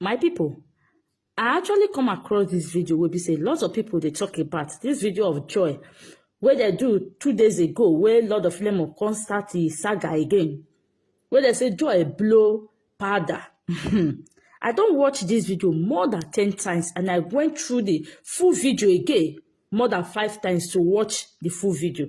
my people i actually come across this video where be say lots of people they talk about this video of joy where they do two days ago where lord of lemon come start the saga again where they say joy blow powder i don't watch this video more than ten times and i went through the full video again more than five times to watch the full video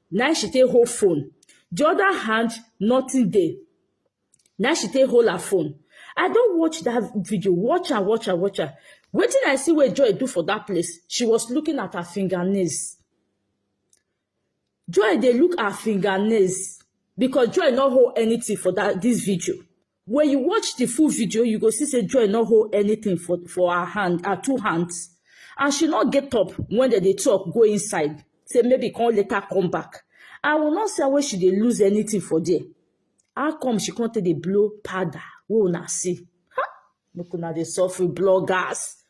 na im she take hold phone the other hand nothing dey na im she take hold her phone i don watch that video watch am watch am watch am wetin i see wey joy do for that place she was looking at her fingernails joy dey look her fingernails because joy no hold anything for that this video When you watch the full video, you go see say Joy no hold anything for, for her hand, her two hands. And she not get up when they, they talk, go inside. Say maybe come later come back. I will not say where she dey lose anything for there. How come she can't take the blow powder? Who na see? Ha! Look una dey suffer bloggers.